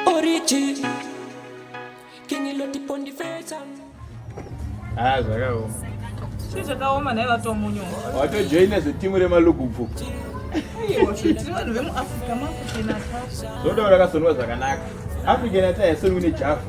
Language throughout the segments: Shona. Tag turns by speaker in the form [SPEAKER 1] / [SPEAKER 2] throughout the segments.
[SPEAKER 1] Origin King Loti Pondi Feta Ah, zvakaoma.
[SPEAKER 2] Chii zvakaoma
[SPEAKER 3] naye vatomunyo. Watojoina zvetimu
[SPEAKER 2] remalugubvu. Aiwa,
[SPEAKER 3] tiri vanhu vemuAfrica makuchena. Zvoda rakasonwa
[SPEAKER 2] zvakanaka. African ataya soni kune jafu.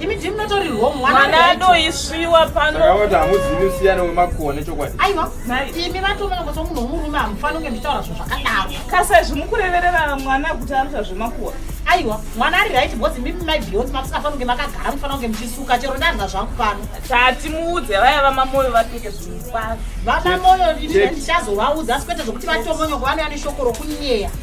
[SPEAKER 4] Imi ndimi munotori home mwana mwana wedu. adoisviwa
[SPEAKER 3] pano Saka voti hamuzivi musiyano
[SPEAKER 2] wemakone chokwadi. Aiwa, Nai- imi
[SPEAKER 4] vatoona kuti munhu womurume hamufani kunge muchitaura zvinhu zvakadaro. kasa izvi mukureverera
[SPEAKER 3] mwana kuti anoita zvemakuwa Aiwa, mwana
[SPEAKER 4] ari right because imi mai Beyonce mamusingafani kunge makagara mufana kunge muchisuka chero ndarya zvangu pano. tati muudze
[SPEAKER 3] vaya vamamoyo vapfeke zvinhu kwazvo Vana moyo imi
[SPEAKER 4] Check. ndichazovaudza asi kwete zvokuti vatomonyoka vanouya neshoko rokunyeya.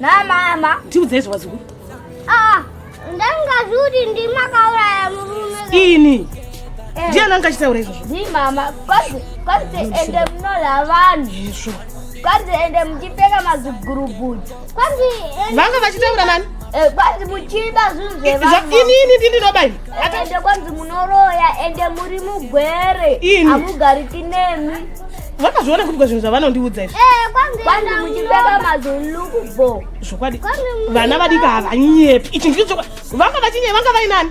[SPEAKER 3] namama
[SPEAKER 5] tiudzei zvewazukuru
[SPEAKER 3] ah, ndangazuri
[SPEAKER 5] ndimakauraya murume ini
[SPEAKER 3] eh. ndiani anga achitaura izvozvo ni mama
[SPEAKER 5] kwanzi ende munola vanhu izvo
[SPEAKER 3] kwanzi ende
[SPEAKER 5] muchipfeka mazigurubuti kwanzi vanga vachitaura
[SPEAKER 3] nani Eh, kwanzi muchiba
[SPEAKER 5] zvinhu zvevanhuinini ndinoba ini
[SPEAKER 3] ende kwanzi
[SPEAKER 5] munoroya ende muri mugwere hamugariki nemi vakazviona kuti
[SPEAKER 3] kwazvinhu zvavanondiudza izvi
[SPEAKER 5] zvokwadi
[SPEAKER 3] vana vadika havanyepi ichi ndii chokwadi vanga vachinyepi vanga vainani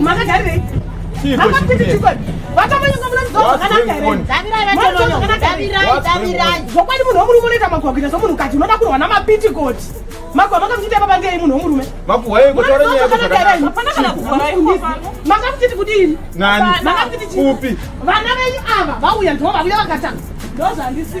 [SPEAKER 3] Makagarirei?
[SPEAKER 4] zvokwadi munhu womurume unoita
[SPEAKER 3] makuhwa kuita somunhu kati unoda kurwa namapitikoti makuhwa makamuchita papa ngei munhu womurume
[SPEAKER 2] makamuchiti
[SPEAKER 3] kudini vana venyu
[SPEAKER 2] ava
[SPEAKER 3] vauya ndoo vauya vakatanga ndozvandisii